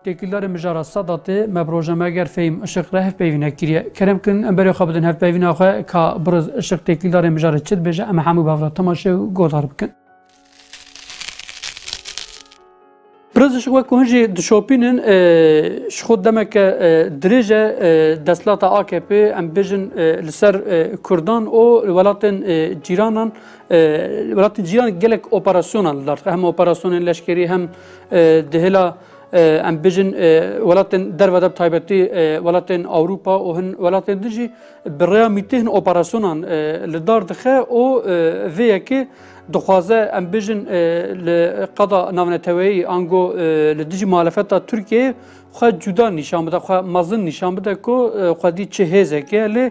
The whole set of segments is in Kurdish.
Têkildarê mijara Sedatê me bi rojnameger Fehîm Işık re hevpeyvînek kiriye. Kerem kin em berê xwe bidin hevpeyvîna xwe ka Biriz Işık têkildarê mijarê çi dibêje em hemû bi hev re temaşe û guhdar bikin. Biriz Işık wek ku hin jî dişopînin ji xwe demeke dirêj e desthilata AKP'ê em bêjin li ser Kurdan û welatên cîranan Welatên cîran gelek operasyonan li dar dixe hem operasyonên leşkerî hem dihêla em bijin welatên derve de taybetî welatên Ewropa û hin welatên din jî bi rêya mîtî hin operasyonan li dar dixe û vê yekê dixwaze em bijin li qada navneteweyî ango li dijî muhalefeta Tirkiyeyê xwe cuda nîşan bide xwe mezin nîşan bide ku xwedî çi hêzek ye lê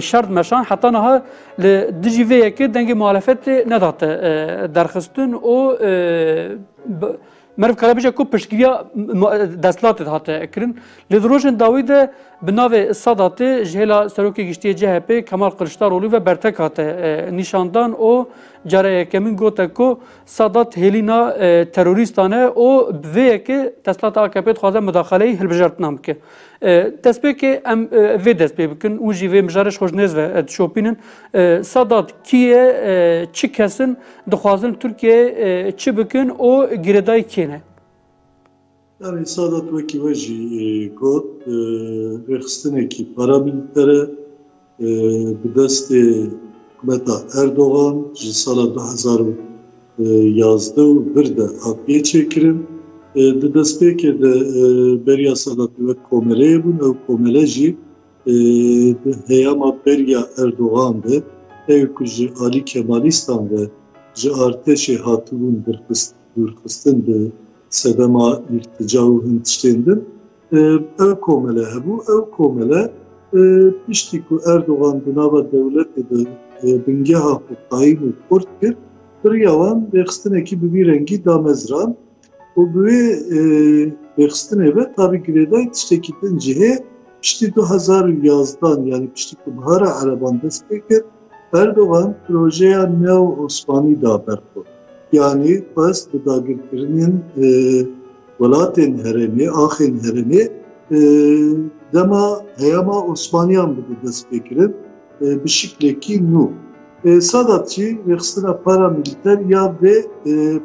Şert meşan heta niha li dijî vê yekê dengê muhalefetê nedate derxistin û meriv kare bije ku piştgiriya destlatê hate kirin. Lê di rojên dawî de bi navê Sadatê ji hêla Serokê Giştiyê CHP Kemal Kiliçdarolî ve bertek hate nîşandan û cara yekemîn gote ku Sadat hêlîna terorîstan e û bi vê yekê destlata AKP'ê dixwaze mudaxaleyî hilbijartinan bike. Destpêkê em vê dest pê bikin û jî vê mijarê ji xwe ji nêz ve dişopînin. Sedat kî ye, çi kes in, dixwazin Tirkiyeyê çi bikin û girêdayî kê ne? Yanî Sedat wekî we jî got, rêxistinekî paramîlîter e. Bi destê hikûmeta Erdogan ji sala du hezar û yazdeh û vir de hatiye çêkirin. Di destpêkê de beriya Sedatê wek komeleyê bûn. Ew komele jî di heyama beriya Erdogan de ew ku ji alî Kemalîstan ve ji artêşê hatibûn dûrxistin bi sedema îrtîca û hin tiştên din, Ew komele hebû, ew komele piştî ku Erdogan di nava dewletê de bingeha xwe qayîm û xurt kir, biriya wan rêxistinekî bi vî rengî damezrand û bi wê rêxistinê ve tabî girêdayî tiştekî din jî heye. Piştî du hezar û yazdan yanî piştî ku Bihara Ereban dest pê kir, Erdogan projeya neo-osmanî da ber xwe, yanî xwest bi dagirkirinên welatên herêmê, axên herêmê dema heyama osmaniyan bibe destpêkirin bi şiklekî nû. Sadat jî rêxistina paramîlîter ya vê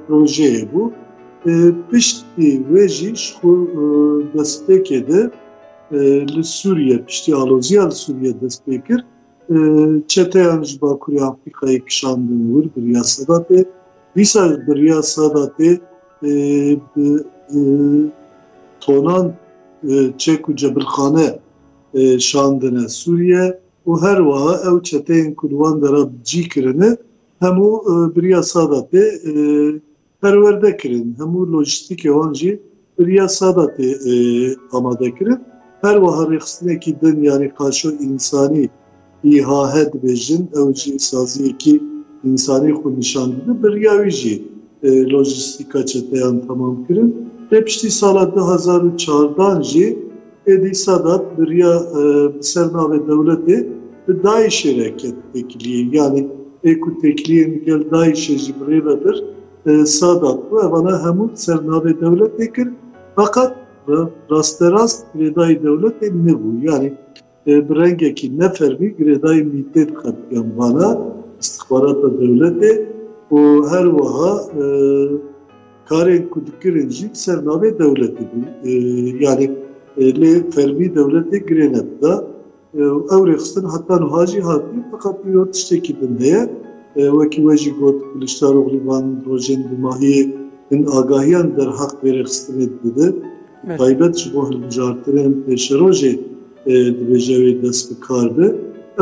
projeyê bû. Piştî wê jî ji destpêkê de li Sûriye, piştî aloziya li Sûriye destpêkir. Çeteyan ji Bakurê Afrikayê kişandin wir bi riya Sedatê, dîsa bi riya Sedatê bi tonan çek û cebilxane şandine Sûriye û her wiha ew çeteyên ku li wan dera cî kirine hemû bi riya Sedatê Perwerde kirin, hemû lojîstîkê wan jî bi riya sada tê amadekirin. Her wiha rêxistinekî din yanî qaşo însanî îHAHE dibêjin, ew jî saziyekî însanî xwe nîşan dide. Bi riya wî jî lojîstîka çeteyan temam kirin. Lê piştî sala du hezar û çardan jî, Êdî Sedat biriya bi ser navê dewletê bi DAIŞ'ê re ket têkiliyê. Yanî ê ku têkiliyên li gel DAIŞ'ê jî birêve bir, Sedat bû. Evana hemû bi ser navê dewletê kir. Feqet rasterast girêdayî dewletê nebû. Yanî bi rengekî ne fermî girêdayî mîtê diqetiyan bala îstixbarata dewletê û her wiha Karên ku dikirin jî bi ser navê dewletê bû. Yanî lê fermî dewletê girê nedida û ew rêxistin heta nuha jî hatî. Feqat îro tiştekî din heye. Wekî we jî got Kiliçdaroglî van rojên dûmahiyê hin agahiyan derheq vê rêxistinê dide. Bi taybet ji bo hilbijartinên pêşerojê dibêje wê dest bi kar be.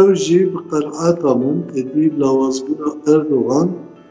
Ew jî bi qenaeta min êdî lawazbûna Erdogan,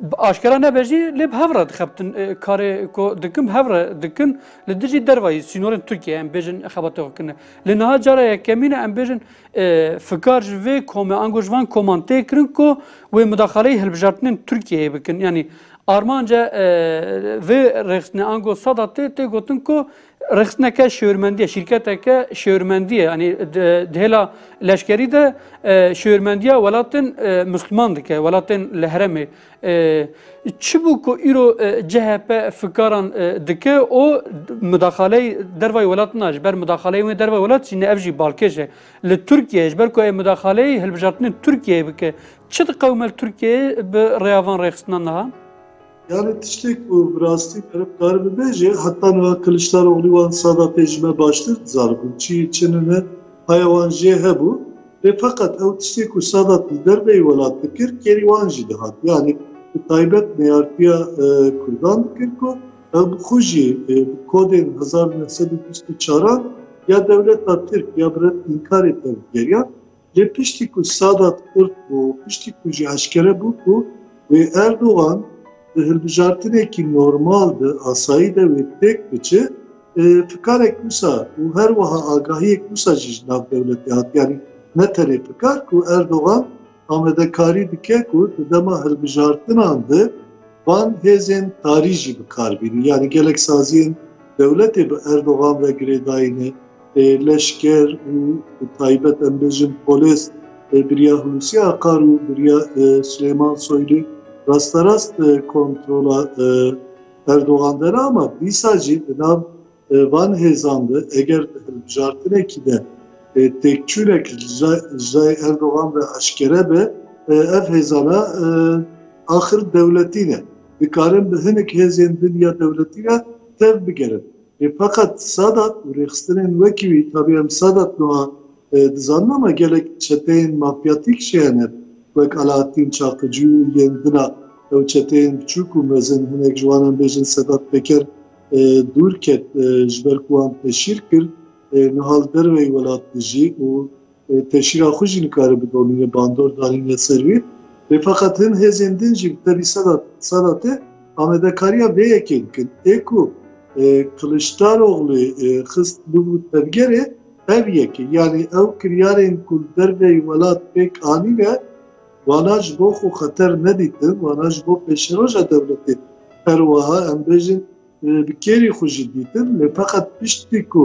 Bi aşkera nebe jî lê bi hev re dixebtin. Karê ku dikim hev re dikim li dijî dervayî sînorên Tirkiyeyê em bêjin xebatê xwe kirine. Lê niha cara yekemîn e em bêjin fikar ji vê komê ango ji van koman tê kirin ku wê midaxaleyî hilbijartinên Tirkiyeyê bikin. Yanî armanca vê rêxistinê ango sada tê tê gotin ku Rêxistineke şêwirmendiyê, şîrketeke şêwirmendiyê yanî di hêla leşkerî de şêwirmendiya welatên Musliman dike, welatên li heremê. Çi bû ku îro CHP fikaran dike û mudaxaleyî dervayê welat na ji ber mudaxaleyê wê dervayê welat jî ne ev jî balkêş e. Li Tirkiyeyê ji ber ku ê mudaxaleyî hilbijartinên Tirkiyeyê bike. Çi diqewime li Tirkiyeyê bi rêya van rêxistinan de ha? Yani tiştek ku bi rastî pere bi kari bibêje heta niha Kiliçdaroglî wan sada pê ji me baştir dizanibû çi yê çi nine haya wan jê hebû lê feqet ew tiştê ku Sadat li derveyî welat dikir kêrî wan jî dihat yani bi taybet neyartiya Kurdan dikir ku ew bi xwe jî bi kodên hezar neh sed û bîst û çaran ya dewleta Tirk ya bi red înkarê tevgeriyan. Lê piştî ku Sadat xurt bû, piştî ku jî eşkere bû ku wê Erdogan di hilbijartinekî normal de, asayî de wê pêk biçe, fikarek wisa û her wiha agahiyek wisa jî ji nav dewletê hat. Yanî ne tenê fikar ku Erdogan amadekarî dike ku di dema hilbijartinan de van hêzên tarî jî bi kar bînin. Yanî gelek saziyên dewletê bi Erdogan ve girêdayî ne. leşker û bi taybet em bêjin polês biriya Hulusiya Akar û biriya Silêman Soylî rasterast kontrola Erdogan de ne ama dîsa jî di nav van hêzan de eger di hilbijartinekî de têkçûnek ji ciyayê Erdogan ve eşkere be ev hêzana axir dewletî ne. Dikarin bi hinek hêzên din ya dewletî re tev bigerin. Lê feqet Sadat û rêxistinên wekî wî, tabî em Sadat nuha dizanin ama gelek çeteyên mafyatîk jî hene wek Alaeddîn Çaxicî û yên din a ew çeteyên biçûk û mezin hinek ji wan em bêjin Sedat Peker dûr ket ji ber ku wan teşhîr kir nihal derveyî welat dijî û Teşîra xwe jî nikare bidomîne, bandor danîne ser wî. Lê feqet hin hêzên din jî bi tevî sala sala te amadekariya vê yekê dikin. Ê ku Kiliçdaroglû xist bûbû tevgerê ev yek e. Yanî ew kiryarên ku li derveyî welat pêk anîne wana ji bo xwe xeter nedîtin, wana ji bo pêşeroja dewletê her wiha em bêjin bi kêrî xwe jî dîtin. Lê feqet piştî ku.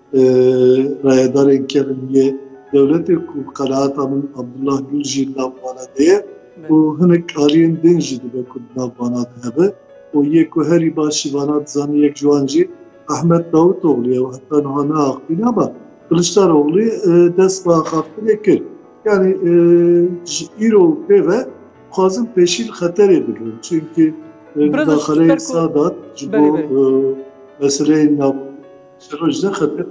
Rayedarên kevniye dewletê ku qereata min Abdullah Gul jî li nav wana de ye û hinek aliyên din jî dibe ku di nav wana de hebe û yê ku herî başî wana dizane yek ji wan jî Ehmed Davutoglu ye û heta niha neaxivîne ama Kiliçdaroglû dest bi axaftinê kir. Yanî ji îro û pê ve dixwazin pêşî li xeterê bigirin çimkî mudaxeleyên Sadat ji bo meseleyên nav Ji Rojdexe te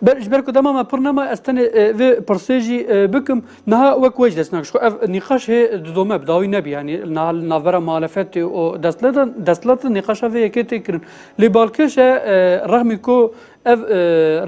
Belê ji ber ku dema me pir nema ez tenê e, vê pirsê jî e, bikim. Niha wek we jî dest nakiş. Xwe ev nîqaş hê didome bi dawî nebî yanî niha li navbera muhalefetê û destleta destleta nîqaşa vê yekê tê kirin. Lê balkêş e e, rexmî ku ev e,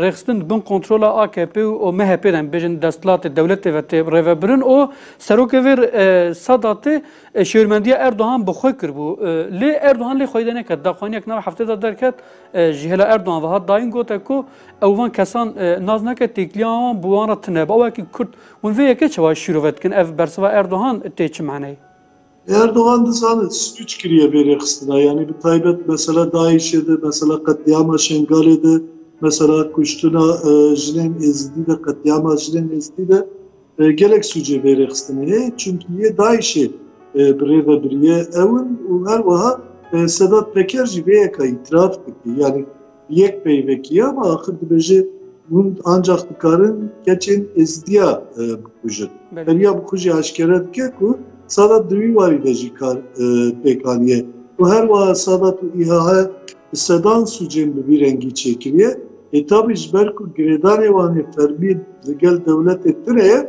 rêxistin bin kontrola AKP û MHP'ê de em bêjin destlatê dewletê ve tê rêvebirin û serokê vê e, Sedatê e, şêwirmendiya Erdogan bi xwe kiribû. E, Lê Erdogan lê xwedê neket. Daxwaniya ki nav heftê de derket Ji hêla Erdogan ve hat dayîn gote ku ew van kesan nas nake têkiliya wan bi wan re tune be. Ew wekî Kurd hûn vê yekê çawa şîrove dikin? Ev bersiva Erdogan tê çi maneyê? Erdogan dizane swîç kiriye vê rêxistina yanî bi taybet mesela DAIŞ'ê de, mesela qetlîama Şengalê de, mesela kuştina jinên êzidî de, qetlîama jinên êzidî de. Gelek sûcê bê rêxistinê heye çimkî yê DAIŞ'ê bi rê ve biriye ew in û her wiha Sedat Peker jî vê yeka îtiraf dike. Yanî yek peyvekî ye ama axir dibêje hûn ancax dikarin keçên Êzidiya bikujin. Heriya bixwe jî eşkere dike ku Sadat di wî warî de jî kar pêk aniye û her wiha Sadat û îHH bi sedan sûcên bi vî rengî çêkiriye. Hetabî ji ber ku girêdanê wan ê fermî li gel dewletê tune ye,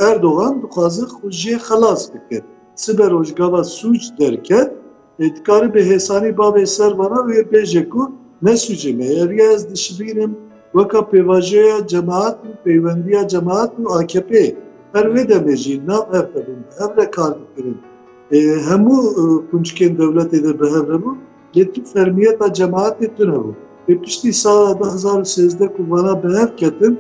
Erdogan dixwaze xwe jê xelas bike. Sibe rojgava sûc derket, dikaribe hêsanî bavê ser vana û yê bêje ku ne sûcê me ye. Riya ez dişibînim weka pêvajoya cemaat û peywendiya cemaat û AKP'ê. Her wê demê jî nav hev hebûn, bi hev re kar dikirin. Hemû qûnçkên dewletê de bi hev hebûn. Lê tu fermiyeta cemaetê tune bû. Lê piştî sala du hezar û sêzdeh ku vana bi hev ketin,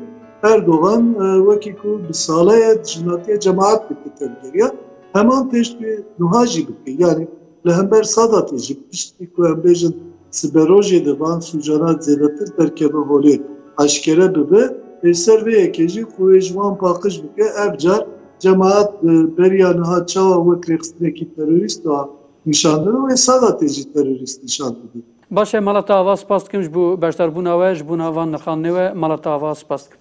Erdogan wekî ku bi saleye dijminatiya cemaet dike tevî kiriya, heman pêşbî nuha jî bike. Yanî li hember Sadatê jî piştî ku em bêjin siberojê de van sûcana zêdetir derkeve holê, eşkere bibe, li ser vê yekê jî xwe wê ji wan paqij bike, ev car cemaet beriya niha çawa wek rêxistinekî terorîst a, Nîşandin û wê sala tê jî terorîst nîşan didin. Baş e mala te ava spas dikim ji bo beşdarbûna we ji bo van nirxandinê we mala te ava spas dikim.